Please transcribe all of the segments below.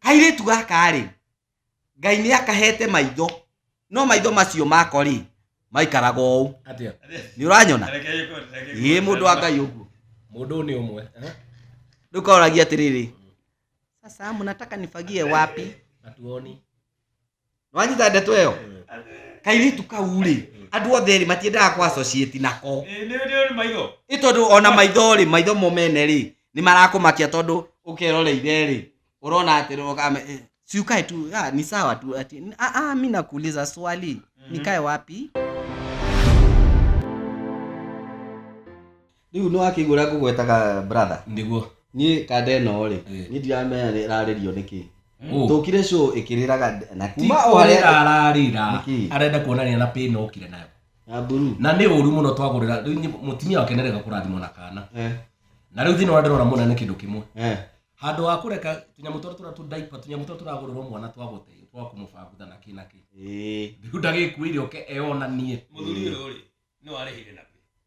kairĩtu gaka rĩ ngai nĩ akahete maitho no maitho macio mako rĩ maikaraga ũũ Atia. nĩ ũranyona ĩ mũndũ wa ngai ũguo Mũndũ nĩ ũmwe. Eh? rĩu kaoragia atĩrĩrĩ sasa mnataka nifagie wapi Atuoni. nwanyita ndeto ĩyo kairĩtu kau rĩ andũ othe rĩ matiendaga kwa associate nako Ĩ, nĩ nĩ maitho ĩ tondũ ona maitho rĩ maitho mo mene rĩ nĩ marakũmakia tondũ ũkeroreire rĩ ũrona atĩ rũgame eh, si ukae tu ah, ni sawa tu ati ah, ah, mi nakuuliza swali nikae wapi Rĩu nĩ wakĩigua ũrĩa ngũgwetaga brother? Nĩguo. Niĩ kanda ĩno rĩ, Eh. niĩ ndiramenya nĩ ĩrarĩrio nĩkĩ. Ũ. Tũkire show ĩkĩrĩraga nde- na kuma o harĩa Tikorera ararĩra. Nĩkĩ? Arenda kuonania na pin okire nayo. ya buru. Na nĩ ũru mũno twagũrĩra. Rĩu nĩ- mũtumia wake nĩarega kũrathimwo na kana. Eh, Na rĩu thĩna ũrĩa ndĩrona mũna nĩ kĩndũ kĩmwe. eh. Handũ wa kũreka tũnyamũ tũrĩa tũra tũ diaper, tũnyamũ tũrĩa tũragũrĩrwo mwana twa gũte, twa kũmũbangutha na kĩ na kĩ. Ĩĩ. Rĩu ndagĩkuĩire oke eyonanie. Mũthuri ũyũ rĩ, nĩ warĩhire na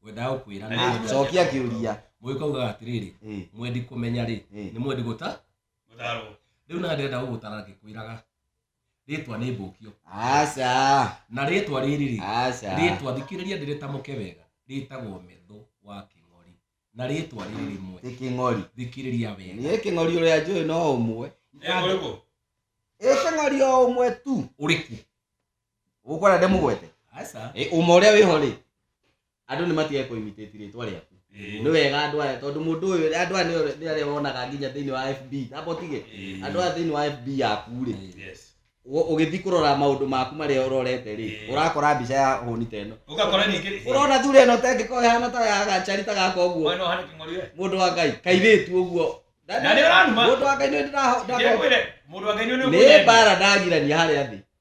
ngwendaga gũkwĩra na Rĩu, cokia kĩũria mũgĩ kaugaga atĩrĩrĩ Eh, mwendi kũmenya rĩ eh. nĩ mwendi gũta Gũtarwo. rĩu na ndĩrenda gũgũtara ngĩkwĩraga rĩtwa nĩ mbũkio aca na rĩtwa rĩrĩ rĩ aca rĩtwa thikĩrĩria ndĩrĩtamũke wega rĩtagwo metho wa kĩng'ori na rĩtwa rĩrĩ rĩmwe nĩ kĩng'ori thikĩrĩria wega niĩ kĩng'ori ũrĩa njũĩ no ũmwe Eh, ũrĩkũ? ĩ kĩng'ori o ũmwe tu ũrĩkũ gukora nde mugwete Aca. Eh, uma uria wiho ri andu ni matige ku imitate ritwa riaku ni wega andu aya tondu mundu uyu andu aya ni- ni aria wonaga nginya thiini wa fb tamba utige Eh. andu aya thiini wa fb yaku ri Yes. ugithi kurora maundu maku maria urorete ri Eh. urakora mbica ya huni ta ino Ũgakora ningĩ- urona thuri ino tengikorwo ihana ta ya gacari ta gaka uguo Mwana ũhana kĩng'ori we. mundu wa ngai kairitu uguo Na nĩ ũranuma. mundu wa ngai nĩ ndĩraho- Njĩra kwĩre, mũndũ wa Ngai nĩ ũrĩa nĩ ũkũnyenda. mbara ndagirania harĩa thĩ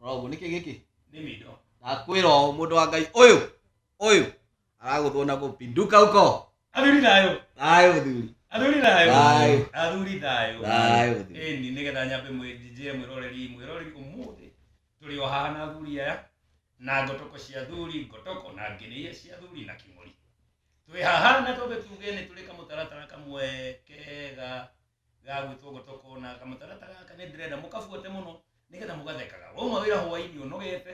roguo nĩkĩ gĩkĩ Nĩ mido. ndakwĩra ũũ mũndũ wa ngai ũyũ ũyũ aragũthwo na gũpinduka uko Athuri thayũ. thayũ mũthuri Athuri thayũ. Thayũ. Athuri thayũ. Thayũ mũthuri. Ĩni nĩgetha nyambe mwĩnjinjĩre mwĩroreri mwĩroreri ũmũthĩ tũrĩ o haha na athuri aya na ngotoko cia athuri ngotoko na ngĩnĩia cia athuri na kĩmũri twĩ haha na twambe tuge nĩ tũrĩ kamũtaratara kamwe kega ga gwitå gå tåkonaga kamũtarata gaka nä ndĩrenda mũkabuate må no nä getha mũgathekaga wauma wä ra hwainä å nogete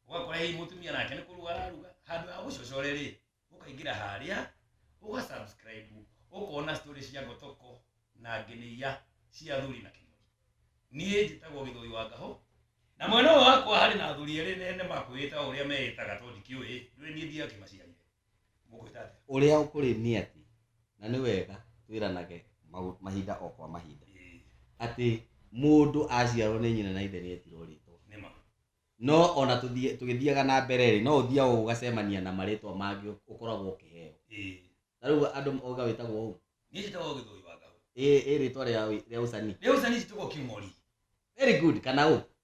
ũgakora hihi mũtumia nake nĩ kũruga araruga handũ ha gũcocore rĩ ũkaingĩra harĩa ũga subscribe ũkona story cia ngotoko na ngenĩia cia athuri na kĩmũri niĩ njĩtagwo gĩthũi wa ngahũ na mwena ũyũ wakwa harĩ na athuri erĩ nene makwĩĩta ũrĩa meĩtaga to ndikĩũĩ ndũĩ niĩ ndia kĩmaciarire ũrĩa ũkũrĩ nĩ atĩ na nĩ wega twĩranage maũ- mahinda o kwa mahinda atĩ mũndũ aciarwo nĩ nyina na ithe nĩ etirwo rĩtwa nĩma no ona tũthiĩ- tũgĩthiaga na mbere rĩ no ũthiaga ũgacemania na marĩtwa mangĩ ũkoragwo ũkĩheo ĩĩ na rĩu andũ mauga wĩtagwo ũũ niĩ njĩtagwo gĩthũi wa ngahũ ĩ ĩ rĩtwa rĩa rĩa ũcani rĩu cani njĩtagwo kĩmori very good kana ũũ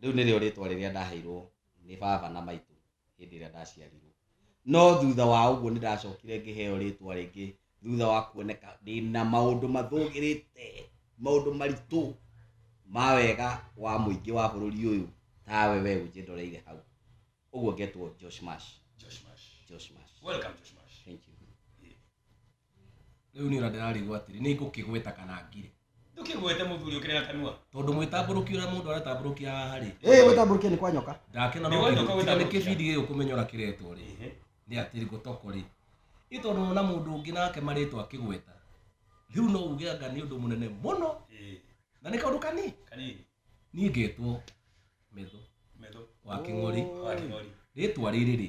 rĩu nĩrĩo rĩtwa rĩrĩa ndaheirwo nĩ baba na maitũ hĩndĩ ĩrĩa ndaciarirwo. No thutha wa ũguo nĩ ndacokire ngĩheo rĩtwa rĩngĩ thutha wa kuoneka ndĩ na maũndũ mathũgĩrĩte, maũndũ maritũ ma wega wa mũingĩ wa bũrũri ũyũ tawe we ũnjĩndoreire hau. Ũguo ngetwo Josh Mash. Josh Mash. Josh Mash. Welcome Josh Mash. Thank you. rĩu nĩ ũra ndĩrarigwo atĩrĩ nĩ ngũkĩgweta kana ngire ndũkĩgwete mũthuri ũkĩrĩ na kanua tondũ mwĩtambũrũkia ũrĩa mũndũ aratambũrũkia haha rĩ ĩĩ gwĩtambũrũkia nĩ kwa nyoka ndakĩona Nĩ no wendo kĩndũ- kawĩra tiga nĩ gũkĩa. kĩbindi gĩgĩ kũmenyora kĩretwo rĩ Ehe. nĩ atĩ ngũtoko rĩ nĩ tondũ wona mũndũ ũngĩ nake marĩtwa akĩgweta rĩu no uge anga nĩ ũndũ mũnene mũno Ĩĩ, na nĩ kaũndũ kanini kanini niĩ ngetwo metho metho wa kĩng'ori wa kĩng'ori rĩtwa rĩrĩ rĩ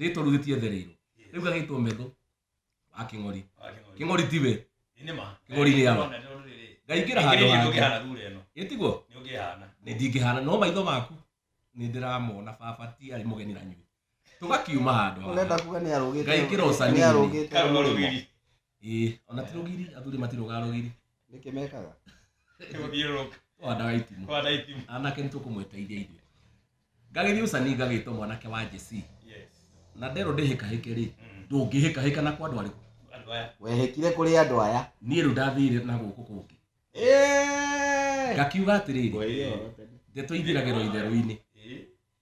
rĩtwa rĩu gĩtiethereirwo rĩu gagĩtwo metho wa kĩng'ori kĩng'ori tiwe kĩng'ori nĩ yama ngaingĩra handũ hangĩ ĩtiguo nĩ ndingĩhana no maitho maku nĩ ndĩramona baba ti arĩ mũgeni na nyuĩ tũgakiuma handũ haha ngaingĩra ũcaninĩ ĩĩ ona ti rũgiri athuri matirogaga rũgiri nĩkĩ mekaga gũthiũrũrũka twandaga itimũ kwana itimũ anake nĩ tũkũmweteithia ithuĩ ngagĩthiĩ ũcani ngagĩtwo mwanake wa njeci yes na nderwo ndĩhĩkahĩke rĩ Mm. ndũngĩhĩkahĩka na kwa andũ arĩkũ andũ aya wehekire kũrĩ andũ aya niĩ rĩu ndathire na gũkũ kũngĩ Ĩĩ! ngakiuga atĩrĩrĩ Ngwĩrire ũhoro tene. ndeto ithiragĩrwo itherũ-inĩ ĩĩ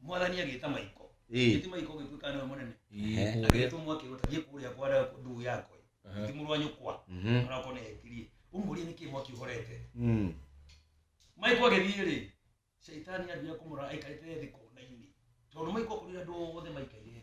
mwathani agĩta maiko Ĩĩ. ĩti maiko ũgĩtuĩka nĩwe mũnene Ĩĩ, kũrĩa. agĩtũmwo akĩgũta thiĩ kũrĩa kwa nda- nduu yakwa Aha. ti mũrũ wa nyũkwa Mhm. onakorwo nĩ etirie ũmũrie nĩkĩ mwaki ũhorete Mm. maiko agĩthiĩ rĩ caitani ambia kũmũra aikarĩte thĩ konainĩ tondũ maiko kũrĩa andũ othe maikaire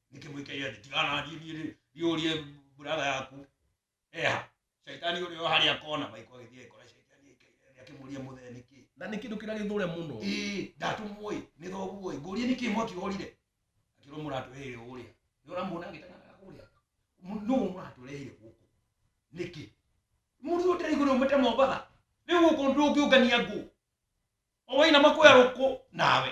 nĩkĩ mũikaire thĩ tiganathiĩ niĩ rĩ ndiũrie buraga yaku eha caitani ũrĩa o harĩa kona maiko agĩthiĩ agĩkora caitani aikaire thĩ akĩmũria mũthee nĩkĩ na nä kä ndå kä rä a gä thå re må no ĩĩ ndatũmwoi nĩ thoguoi ngũrie nĩkĩ mwaki orire akĩrwo mũratũreheire ũrĩa nĩ ũramuona agĩteng'anaga kũrĩa Mũ- nũũ mũratũreheire gũkũ nĩkĩ mũndũ ũyũ ndĩraigua nĩ umĩte mombatha rĩu gũkũ ndũngĩũngania ngũ o wainama kwĩarũkũ nawe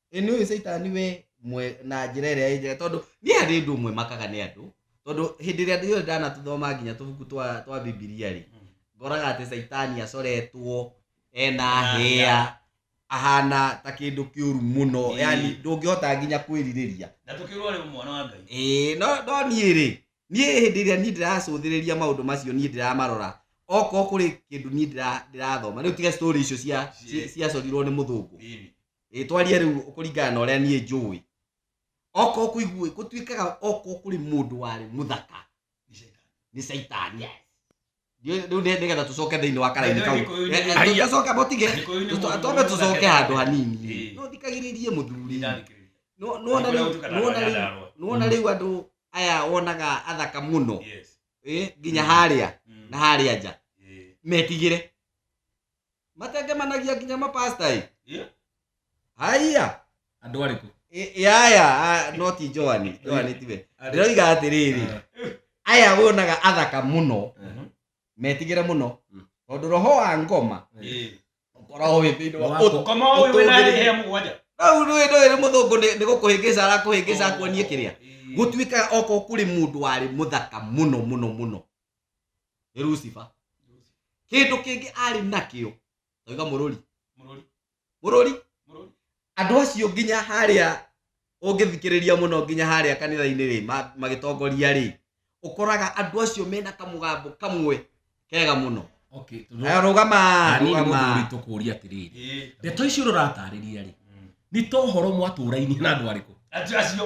ĩ nĩ ũyũ caitani we mwe na njĩra ĩrĩa ĩ njega tondũ niĩ harĩ ũndũ ũmwe makaga nĩ andũ tondũ hĩndĩ ĩrĩa ndĩrĩ ndanatũthoma nginya tũbuku twa twa bibilia rĩ ngoraga atĩ caitani acoretwo ena Ena hĩa hĩa. ahana ta kĩndũ kĩũru mũno Ĩĩ. yani ndũngĩhota nginya kwĩrirĩria na tũkĩrwo rĩ mwana wa ngai Ĩĩ, no no niĩ rĩ niĩ hĩndĩ ĩrĩa niĩ ndĩracũthĩrĩria maũndũ macio niĩ ndĩramarora okorwo kũrĩ kĩndũ niĩ ndĩra- ndĩrathoma rĩu tiga story icio cia Cie. cia- ciacorirwo nĩ mũthũngũ Ĩni. ĩtwarie rĩu kũringana na ũrĩa niĩ njũĩ oko kũigua gũtuĩkaga oko kũrĩ mũndũ warĩ mũthaka nĩ caitani rĩu nĩ- nĩgetha tũcoke thĩinĩ wa karaini kau Gĩkũyũ nĩ- Eh, eh, tũcoke botige Gĩkũyũ nĩ mũndũ twambe tũcoke mũthaka. handũ hanini Ĩĩ. no thikagĩrĩrie mũthuri No- Nĩ nona kũrĩa rĩu- gũtukanaga nona na rĩu- Nyandarua. nona rĩu andũ aya wonaga athaka mũno Yes. Eh, nginya harĩa na harĩa nja Eh, metigĩre matengemanagia nginya mapasta ĩ Eh? haiya andå arä kå Ĩ- ĩ, aya a, no ti joani joani tiwe ndĩroiga atĩrĩrĩ aya wonaga athaka mũno metigĩre mũno Mm. tondå roho wa ngoma ũkoragwo wĩ thĩinĩ wa Wa- ũtũ- koma å yå wä na Ũtũngĩri- hä må gwanja rĩu rĩu rĩu rĩu mũthũngũ nĩ nĩ gũkũhĩngĩca arakũhĩngĩca akuonie kĩrĩa gũtuĩkaga oko kũrĩ mũndũ warĩ mũthaka mũno mũno mũno nĩ lucifer kĩndũ kĩngĩ arĩ nakĩo tauga mũrũri mũrũri mũrũri mũrũri andũ acio nginya harĩa ũngĩthikĩrĩria mũno nginya harĩa kanitha-inĩ rĩ ma- magĩtongoria rĩ ũkoraga andũ acio mena kamũgambo kamwe kega mũno okay tondũ Eh, rũgama Ani nĩ mũndũ rũgama ũritũ kũũria atĩrĩrĩ ĩĩ ndeto icio ũratarĩria rĩ nĩ ta ũhoro mwatũrainie na andũ arĩkũ acio acio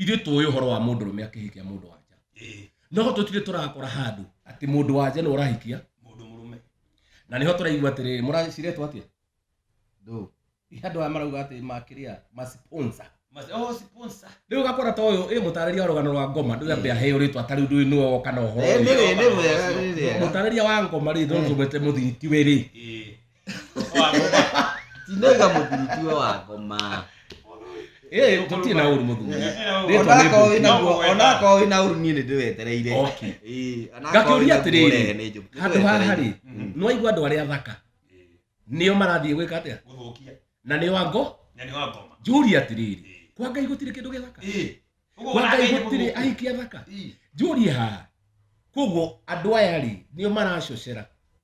ithuĩ tũĩ ũhoro wa mũndũ rũme akĩhikia mũndũ wanja ĩĩ no tũtirĩ tũrakora handũ atĩ mũndũ wanja nĩ ũrahikia mũndũ mũrũme na nĩho tũraigua atĩrĩrĩ mũraciretwo atĩa ndũ andũ aya marauga atĩ makĩrĩa maciponsa Mas- oh, sponsor. rĩu ũgakora ta ũyũ ĩ mũtarĩria wa rũgano rwa ngoma ndũrĩa mbĩa heo rĩtwa tarĩu ndũĩ nĩwe woka na ũhoro Ĩĩ, ũyũ. nĩ wĩ- nĩ wega, nĩ wega. mũtarĩria wa ngoma rĩ ndũrũmĩte mũthiriti wĩ rĩ Ĩĩ. tinaga mũthuri tiwe wakoma ĩĩ tũtirĩ na ũru mũthuri onakorwo wĩna guo onakorwo wĩna ũru niĩ nĩndĩwetereire Okay. Ĩĩ, onakorwo Ngakĩũria wĩna guo atĩrĩrĩ, ũrehe nĩ njũke. handũ haha rĩ Mm. nĩ waigua andũ arĩa athaka nĩo marathiĩ gwĩka atĩa gũthũkia na nĩ wango na nĩ wa ngoma njũria atĩrĩrĩ kwa ngai gũtirĩ kĩndũ gĩthaka Ĩĩ. Ũguo kwa ngai ũrakaire gũtirĩ gũthũkia. ahiki athaka Ĩĩ. njũria haha koguo andũ aya rĩ nĩo maracocera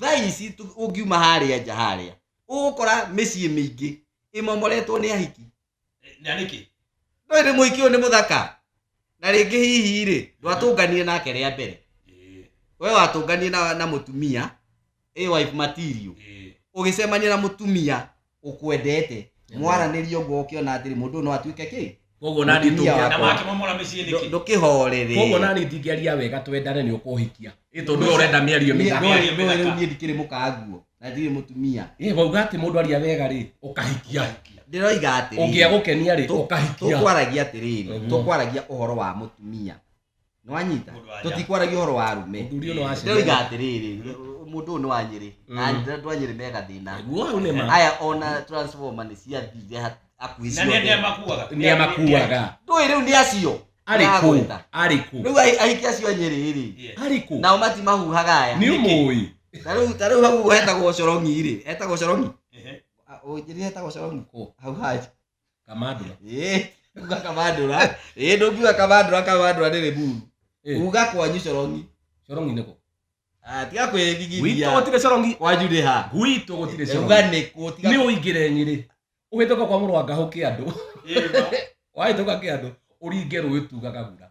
thaa ici tu- ũngiuma harĩa nja harĩa ũgũkora mĩciĩ mĩingĩ ĩmomoretwo nĩ ahiki na nĩkĩ ndoĩ nĩ mũhiki ũyũ nĩ mũthaka na rĩngĩ hihi rĩ ndwatũnganire nake rĩa mbere Ĩĩ, we watũnganire na, na mũtumia ĩ wife material ĩĩ. ũgĩcemania na mũtumia ũkwendete mwaranĩrie ũguo ũkĩona atĩrĩ mũndũ ũyũ no atuĩke kĩ koguo nani Mũtumia tũngĩenda na wakwa. make mamora mĩciĩ nĩkĩ ndũkĩhorere koguo nani ndingĩaria wega twendane nĩ ũkũhikia ĩ tondũ we ũrenda mĩario mĩega Mĩario mĩthaka. rĩu niĩ ndikĩrĩ mũkanguo na ndirĩ mũtumia ĩ wauga atĩ mũndũ aria wega rĩ ũkahikia ndĩroiga atĩrĩ ũngĩagũkenia rĩ Tũ- ũkahikia tũkwaragia atĩrĩrĩ Mhm. tũkwaragia ũhoro wa mũtumia nĩwanyita Mũndũ wa tũtikwaragia ũhoro wa arume Mũthuri ũyũ nĩ wa Shembe. ndoiga atĩrĩrĩ mũndũ ũyũ nĩ wa nyĩrĩ na andũ a nyĩrĩ mega thĩna Guo hau nĩ ma. aya ona transformer nĩ ciathire ha- hakuhĩ na nĩ andĩa ciothe makuaga Nĩ amakuaga. ndũĩ rĩu nĩ acio Arĩ kũ? Aragwĩta. Arĩ kũ? rĩu ahi- ahiki acio a nyĩrĩ rĩ Arĩ kũ? nao matimahuhaga aya Nĩ ũmũĩ. ta rĩu ta rĩu hau ũguo hetagwo corongi rĩ hetagwo corongi Ehe. ũnjĩrire hetagwo corongi Kũ? hau haja kamandura Eh, uga kamandura Eh, ndũngiuga kamandura kamandura nĩ rĩburu Eh. uga kwanyu corongi corongi nĩkũ Ah, tiga gwitũ kwĩthigithia gũtirĩ corongi kwanyu nĩ ha gwitũ gũtirĩ uga corongi nĩ kũ tiga nĩ ũingĩre nyĩrĩ ũhĩtũka kwa mũrwanga hũkĩ andũ wahĩtũka kĩ andũ ũringe rũĩ tugaga gura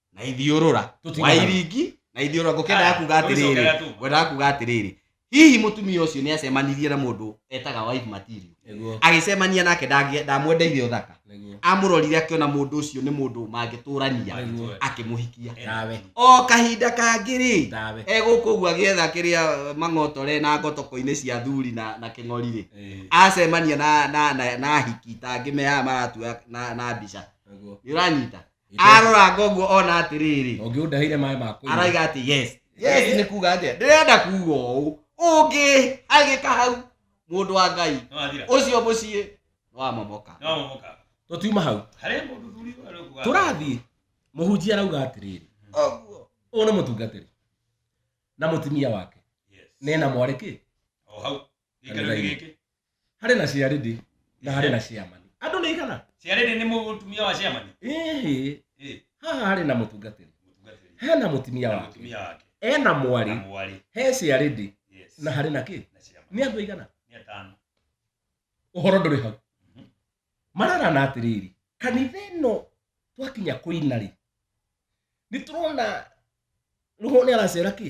na ithiũrũra Tũtiga hau. wairingi na ithiũrũra ngũkĩenda Aya, yakuga atĩrĩrĩ tũgĩcokera tu. ngwendaga kuga atĩrĩrĩ hihi mũtumia ũcio nĩ acemanirie na mũndũ etaga wife material Nĩguo, agĩcemania nake ndangĩ- ndamwendeire ũthaka nĩguo. amũrorire akĩona mũndũ ũcio nĩ mũndũ mangĩtũrania Nĩguo. akĩmũhikia Ndawe, o kahinda kangĩ-rĩ ndawe. e gũkũ ũguo agĩetha kĩrĩa mang'otore na ngotoko-inĩ cia thuri na, na kĩng'ori-rĩ Eh, acemania na, na, na, na hiki tangĩ mehaga maratua na, na mbica nĩguo. nĩ ũranyita arora ngoguo ona atiriri ũngĩũndahire maĩ makũ araiga ati yes yes ni kuga atia ndirenda kuga ũũ ũngĩ agĩka hau mũndũ wa ngai No athira. ũcio mũciĩ nwamomoka No amomoka. tũtiuma hau Harĩ mũndũ thuri ũyũ arauga. tũrathiĩ mũhunjia arauga atĩrĩrĩ ũguo ũyũ nĩ mũtungatĩri na mũtumia wake Yes. nena mwarĩ kĩ O hau. gĩkĩro nĩ gĩkĩ harĩ na ciarĩndĩ na harĩ na ciamani andũ nĩ igana ciarĩndĩ nĩ mũtumia wa ciamani ĩhĩ Eh, haha harĩ na mũtungatĩri mũtungatĩri he na mũtumia na wake mũtumia wake e na na mwarĩ mwarĩ he ciarĩndĩ yes na harĩ na kĩ na ciamani nĩ andũ aigana nĩ atano ũhoro ndũrĩ hau Mhm. mararana atĩrĩrĩ kanitha ĩno twakinya kũina rĩ nĩ tũrona rũhũ nĩ aracera kĩ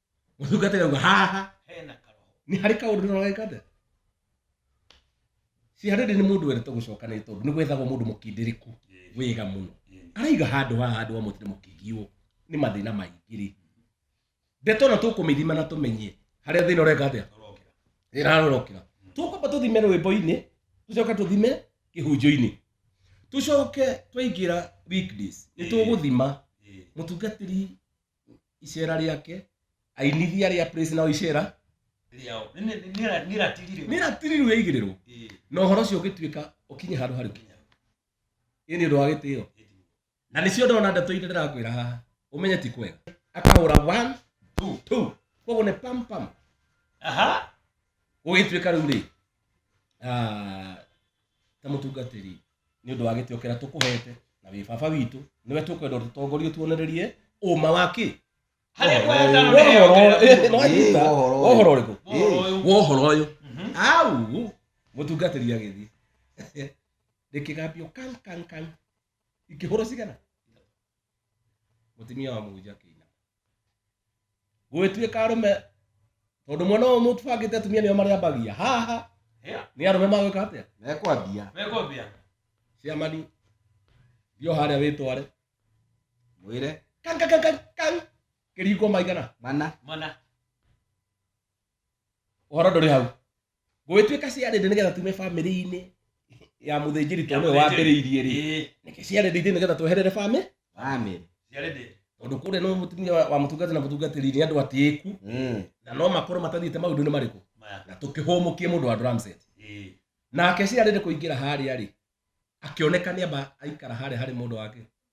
mũtungata rauga haha hena karoho nĩ harĩ kaũndũ nĩrogeka atĩa si harĩ ndĩ nĩ mũndũ wendete gũcoka nĩ tondũ nĩ gwethagwo mũndũ mũkindĩrĩku wĩga mũno araiga handũ haha handũ wa mũtĩ mũkĩgiwo nĩ mathĩna maingĩ rĩ ndeto na tũkũmĩthima na tũmenye harĩa thĩna ũreka atĩa ĩrarorokera tũkwamba tũthime rwĩmbo-inĩ tũcoke tũthime kĩhunjio-inĩ tũcoke twaingĩra weekdays nĩ tũgũthima mũtungatĩri icera rĩake ainithia rĩa praise nao icera rĩao Nĩ- nĩ- nĩ- nĩra- nĩratirirwo nĩratiriru yaigĩrĩrwo Ĩĩ, na ũhoro ũcio ũgĩtuĩka ũkinye handũ harĩ kinya ĩ nĩ ũndũ wa gĩtĩo ĩndĩ. na nĩcio ndona ndeto irĩ ndĩrakwĩra haha ũmenye ti kwega akahũra one Tu. two koguo nĩ pam pam aha gũgĩtuĩka rĩu rĩ ah, ta mũtungatĩri nĩ ũndũ wa gĩtĩo kĩrĩa tũkũhete na wĩ baba witũ nĩwe tũkwenda ũtũtongorie tuonererie ũma wa kĩ harĩa kwa wetano nĩ heo Wohoro- eh, nĩ Ĩĩ, wanyita. wohoro ũyũ. wohoro ũrĩkũ Wohoro ũyũ. wohoro ũyũ Mhm. au mũtungatĩri agĩthiĩ rĩkĩgambio kan kan kan ikĩhũrwo cigana mũtumia wa mũhunjia akĩina gwĩtuĩka arũme tondũ mwena ũyũ mũtubangĩte atumia nĩo marĩambagia haha Eh, nĩ arũme magwĩka atĩa mekwambia mekwambia ciamani thio harĩa wĩtware mwĩre kangakangakang kĩriko maigana mana mana ũhoro ndũrĩ hau gũgĩtuĩka ciarĩndĩ nĩgetha tume bamĩrĩ-inĩ ya mũthĩnjĩri to nĩwe wambĩrĩirie rĩ Ĩĩ, nĩkĩ ciarĩndĩ ithuĩ nĩgetha tweherere bamĩ bamĩrĩ ciarĩ ndĩ. tondũ kũrĩa no mũtumia wa wa mũtungati na mũtungatĩri nĩ andũ atĩĩku Mm. na no makorwo matathiĩte maũndũ-inĩ marĩkũ Maya, na tũkĩhũmũkie mũndũ wa Ramset ĩĩ. nake ciarĩndĩ kũingĩra harĩa rĩ akĩoneka nĩ amba aikara harĩa harĩ mũndũ wake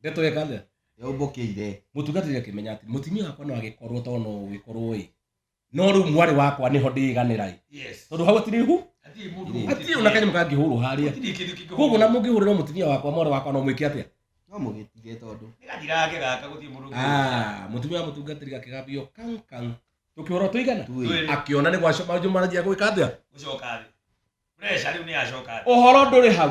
ndeto ĩka atĩa yaumbũkĩire mũtungatĩri akĩmenya atĩ mũtumia wakwa no agĩkorwo to no ũgĩkorwo ĩ no rĩu mwarĩ wakwa nĩho ndĩganĩra ĩ yes tondũ hau hatirĩ hu hatirĩ mũndũ hatirĩ ona kanyamũ kangĩhũrwo harĩa hatirĩ kĩndũ kĩngĩhũrwo. koguo na mũngĩhũrĩrwo mũtumia wakwa mwarĩ wakwa no mwĩke atĩa no mũgĩtige tondũ nĩ gathira gake gaka gũtirĩ mũndũ ũngĩ- Ah, mũtumia wa mũtungatĩri gakĩgambio kang kang tũkĩhũrwo tũigana Twĩrĩ. Twĩrĩ. akĩona nĩ gwacoka manjũ maranjia gwĩka atĩa gũcoka thĩ pressure rĩu nĩ yacoka thĩ ũhoro ndũrĩ hau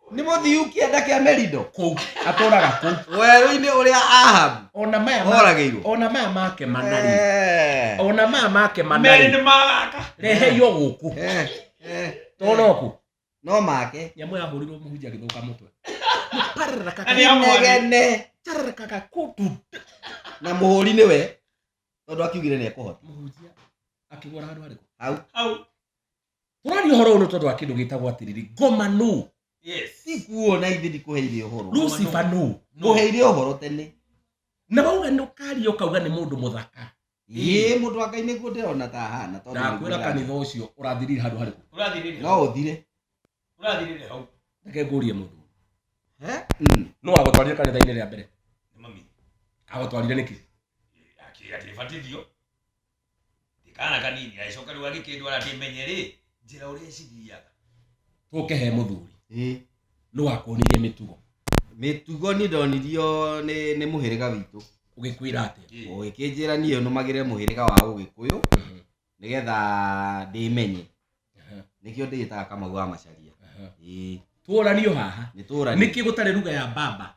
nĩ mũthiu kĩanda kĩa merido kũu atũraga kũu werũ-inĩ ũrĩa ahabu ona maya ma- oragĩirwo ona maya make manari Eh. ona maya make merĩ manari nĩ magaka reheio gũkũ Eh, eh. toroku no make nyamũ yahũrirwo mũhunjia gĩthũka mũtwe pararaka Na nĩ ya mwarĩ. inegene tararakaga kũtu na mũhũri nĩ we tondũ akiugire nĩ ekũhota mũhunjia akĩgũra handũ harĩkũ hau hau twaria horo no tondu akindu gitagwo atiriri ngoma no yes ikuo na ithe ndikuheire uhoro lucifer no nguheire uhoro tene na bauga ni ukaria ukauga ni mundu muthaka ii mundu wa ngai niguo ndirona ta ahana tondu ndakwira kanitha ucio urathirire handu hariku urathirire no uthire urathirire hau reke ngurie mundu Eh? Mm. no agutwarire kanitha-ini ria mbere ni mami agutwarire niki akira tibatithio ndikana kanini agĩcoka rĩu agĩkĩndwara ndĩmenye rĩ njĩra ũrĩa ĩcithiaga tũke he mũthuri Ĩ, nĩ wakuonirie mĩtugo mĩtugo nĩ ndonirio nĩ nĩ mũhĩrĩga witũ ũgĩkwĩra atĩa ũgĩkĩnjĩra niĩ nũmagĩre mũhĩrĩga wa ũgĩkũyũ nĩgetha ndĩmenye Aha, nĩkĩo ndĩgĩtaga kamau wa macaria aha. Ĩĩ, tworanio haha nĩ tũũra nä kä gå tarä ruga ya baba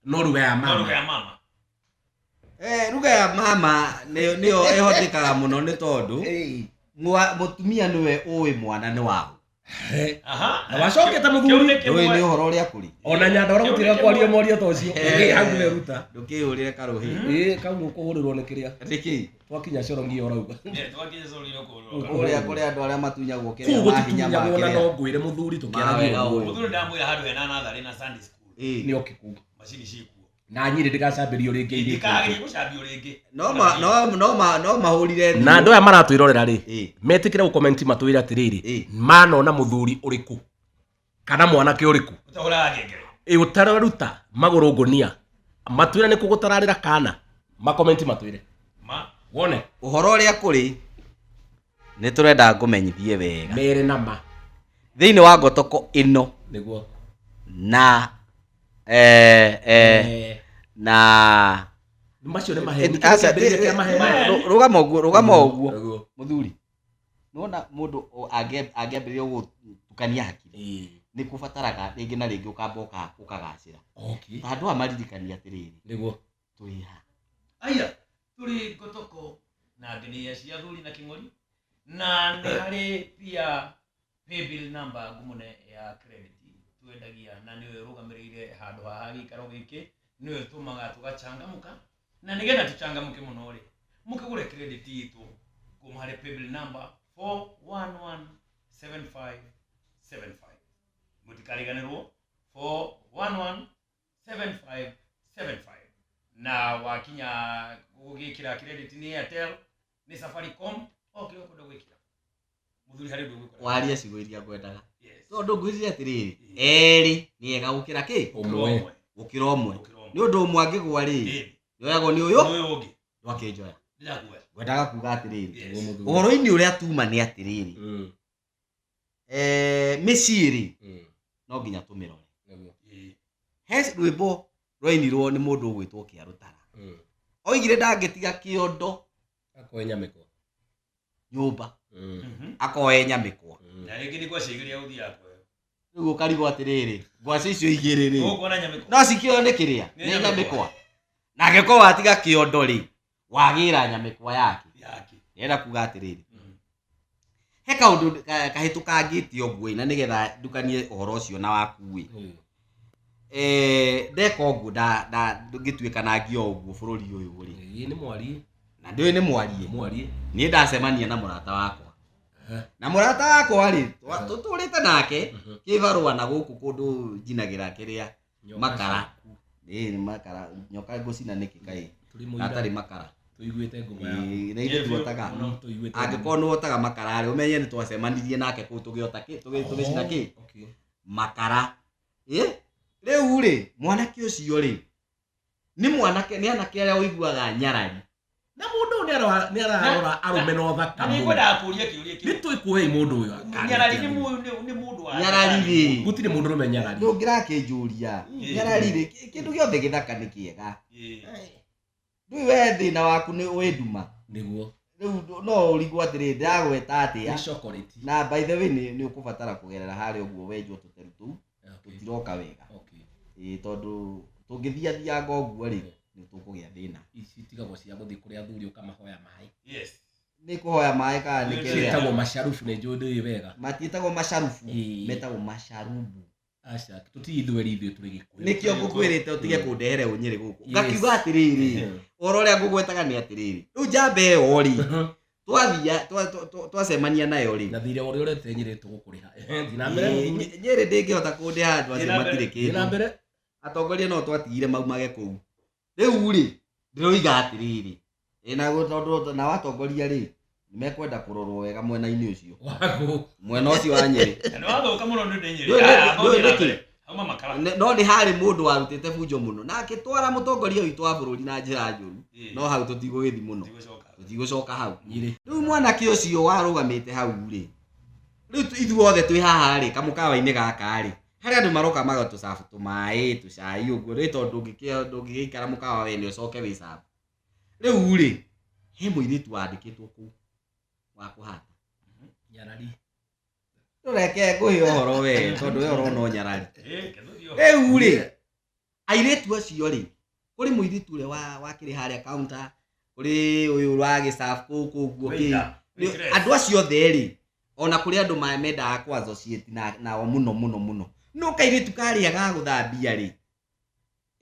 no ruga ya No ruga mama ya mama. Eh, ruga ya mama nĩ- nĩyo ĩhotekaga mũno nĩ tondũ Ĩĩ. mwa- mũtumia nĩwe ũĩ mwana nĩ waũ Eh, Aha. Na wacokete mũthuri. Kĩu nĩ ndũĩ nĩ kĩmwe. ũhoro ũrĩa kũrĩ ona nyanda å rä gå tä ga kwaria moria ta å cio Eh. hau nä ruta ndũkĩyũrĩre karũhĩ Mhm. ä kau nä å kå hå rä rwo nä kä rä a nĩkĩ twakinya coro ngiyo rauga Eh, twakinya coro ngiyo kũrũga. Kũrĩa kũrĩa andũ arĩa matunyagwo kĩrĩa kũu mahinya ma gũtitunyagwo na kĩrĩa. no ngwĩre mũthuri Mawega tũkĩaragia ũguo. ũguo Mũthuri ndamwĩra handũ hena natharĩ na Sunday school. Ĩĩ. nĩ oke kuu Macini cikuo. na nyirĩ ndĩgacambĩrio rĩngĩ irĩ Ndikageria gũcambio rĩngĩ. No ma- no- no ma- no mahũrire thimũ. na andå aya maratwä rorera rä Ĩĩ. metä kä re gå komenti matwä re atä rä Ĩĩ. rä manona må thuri å rä kå kana mwanake ũrĩkũ Ũtahũraga ngengere. ĩ ũtararuta magũrũ ngũnia matwĩre nĩ kũgũtararĩra kana makomenti matwĩre Ma. wone Ũhoro ũrĩa kũrĩ nĩ tũrenda ngũmenyithie wega. mere na ma Thĩinĩ wa ngotoko ĩno nĩguo na eh, eh, Eh, na macio nĩ maheni Aca- Kĩambĩrĩria kĩa maheni. Rũ- rũgama ũguo rũgama ũguo Ũguo. mũthuri nona mũndũ o- angĩ- angĩambĩrĩria gũtukania hakiri Eh, nĩ kũbataraga rĩngĩ na rĩngĩ ũkamba ũka- ũkagacĩra okay ta andũ aya maririkania atĩrĩrĩ nĩguo tũrĩ ha aya tũrĩ ngotoko na ngenĩria cia thuri na kĩng'ori na nĩ harĩ pia Paybill number ngumu nĩ ya credit twendagia na nĩyo ĩrũgamĩrĩire handũ haha gĩikaro gĩkĩ nĩyo ĩtũmaga tũgachangamũka na nĩgetha tũchangamũke mũno rĩ mũkĩgũre credit itũ kuma harĩ paybill number 4117575 mũtikariganĩrwo 4117575 na wakinya gũgĩkĩra credit nĩ Airtel nä safaricom okä å kwenda gwä kä ra må thuri harä å ndå å gwä kora waria ciugo iria ngwendaga tondå ngwĩrire atĩrä erĩ nĩ ega gũkĩra kĩ ũmwe gũkĩra ũmwe nĩ ũndå ũmwe angĩgwa rĩ yoyagwo nĩ ũyũ ũyũ ũngĩ ndwakĩnjoya ndĩrakuoya ngwendaga kuga atĩrĩrĩ Yes. ũhoro-inĩ ũrĩa tuma nĩ atĩrĩrĩ Mm. eh, mĩciĩ rĩ Mm. no nginya tũmĩrore Nĩguo. he rwĩmbo rwainirwo nĩ mũndũ ũgwĩtwo kĩarũtara Mm. oigire ndangĩtiga kĩondo Akoe nyamĩkwa. nyũmba Mm. akoe nyamĩkwa Mm. na rĩngĩ nĩ gwacigeria gũthiaga kwayo rĩu ũkarigwo atĩrĩrĩ ngwacĩ icio igĩrĩ rĩ ũkuona nyamĩko no cikĩoyo nĩ kĩrĩa Nĩ nĩ nyamĩkwa. nyamĩkwa na angĩkorwo watiga kĩondo rĩ wagĩra nyamĩkwa yake yake enda kuga atĩrĩrĩ Mm. he kaũndũ ka- kahĩtũkangĩte ũguo na nĩgetha ndukanie ũhoro ũcio na wakuĩ Mm. Eh, ndeka ũguo nda- nda- ngĩtuĩka na ngio ũguo bũrũri ũyũ rĩ Ĩĩ, nĩ mwarie na ndĩũĩ nĩ mwarie mwarie niĩ ndacemania na mũrata wakwa Aha. na mũrata wakwa rĩ twa- tũtũrĩte nake Mhm. kĩbarũa na gũkũ kũndũ njinagĩra kĩrĩa makara ĩĩ nĩ makara nyoka ngũcina nĩkĩ kaĩ na atarĩ makara tũiguĩte ngoma yaku Ĩĩ, na ithuĩ tuotaga Mũno, tũiguĩte angĩkorwo nĩ wotaga makara rĩ ũmenye nĩ twacemanirie nake kũu tũgĩota kĩ tũgĩ- tũgĩcina kĩ Okay. makara ĩ rĩu rĩ mwanake ũcio rĩ nĩ mwanake nĩ anake arĩa ũiguaga nyarari na mũndũ ũyũ nĩarora- nĩararora arũme na ũthaka na mũno nĩngwendaga kũria kĩũria kĩu nĩtwĩkũhei mũndũ ũyũ akane nyarari nĩ atĩa. mũndũ nĩ- nĩ mũndũ wa nyarari rĩ gũtirĩ mũndũ ũrũme nyarari ndũngĩrakĩnjũria Ĩ. nyarari rĩ kĩ- kĩndũ gĩothe gĩthaka nĩ kĩega Ĩ. ndũĩ we thĩna waku nĩ ũĩ nduma nĩguo rĩu no ũrigwo atĩrĩ ndagweta atĩa nĩ chocolate na by the way nĩ nĩ ũkũbatara kũgerera harĩa ũguo wenjwo tũteru tũu Okay. tũtiroka wega Okay. ĩĩ tondũ tũngĩthiathianga ũguo rĩ nĩ tũkũgĩa thĩna Ici itigagwo cia gũthiĩ kũrĩa athuri ũkamahoya maĩ. Yes. nĩ kũhoya maĩ kana nĩ Nĩ kĩrĩa Ciĩtagwo macarubu nĩ njũĩ ndũĩ wega. matiĩtagwo macarubu Ĩĩ. metagwo macarubu Aca, tũtirĩ ithweri ithuĩ tũrĩ Gĩkũyũ. nĩkĩo ngũkwĩrĩte ũtige Mm. kũndehere ũnyĩrĩ gũkũ Yes. ngakiuga atĩrĩrĩ ũhoro ũrĩa ngũgwetaga nĩ atĩrĩrĩ rĩu njamba ĩyo rĩ twathia twa- twa- twa- twacemania nayo rĩ na thirĩ ũrĩa ũrete nyirĩtu gũkũrĩha Ehe, thiĩ na mbere Ĩ, Nyĩ- nyĩrĩ ndĩngĩhota kũndĩha andũ acio matirĩ thiĩ na kĩndũ mbere atongoria no twatigire maumage kũu rĩu rĩ ndĩroiga atĩrĩrĩ ĩ, na gũ- tondũ nao atongoria rĩ nĩmekwenda kũrorwo wega mwena-inĩ ũcio waku mwena ũcio wa nyĩrĩ Na nĩwathũka mũno nĩ ũndũ nyĩrĩ. Ndũĩ Aya, nĩ- ndũĩ thongi na nĩkĩ? mbere. Auma makara. Ne- no nĩ harĩ mũndũ warutĩte bunjo mũno na akĩtwara mũtongoria witũ wa bũrũri na njĩra njũru Eh. no hau tũtigũgĩthi mũno Tigũcoka. tũtigũcoka hau Nyirĩ. rĩu mwanake ũcio warũgamĩte hau rĩ rĩu tu- ithuothe twĩ haha rĩ kamũkawa-inĩ gaka rĩ harĩ andũ maroka magatũcabu tũmaĩ tũcai ũguo rĩ tondũ ndũngĩkĩa- ndũngĩgĩikara mũkawa wene ũcoke wĩcabu rĩu rĩ he mũirĩtu wandĩkĩtwo kũu wa kũhata Nyarari. reke ngũhe ũhoro we tondũ we ũrona ũnyarari rĩu rĩ airĩtu acio rĩ kũrĩ mũirĩtu ũrĩa wa- wakĩrĩ harĩa kaunta kũrĩ ũyũ wa gĩcabu kũu kũu guo kĩ Nĩ- andũ acio othe rĩ ona kũrĩ andũ ma- mendaga kwa associate na- nao mũno mũno mũno no kairĩtu karĩa ga gũthambia rĩ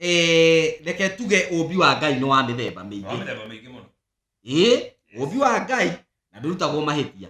Eh, reke tuge ũmbi wa ngai nĩ wa mĩthemba mĩingĩ ĩĩ ũmbi wa ngai na ndũrutagwo mahĩtia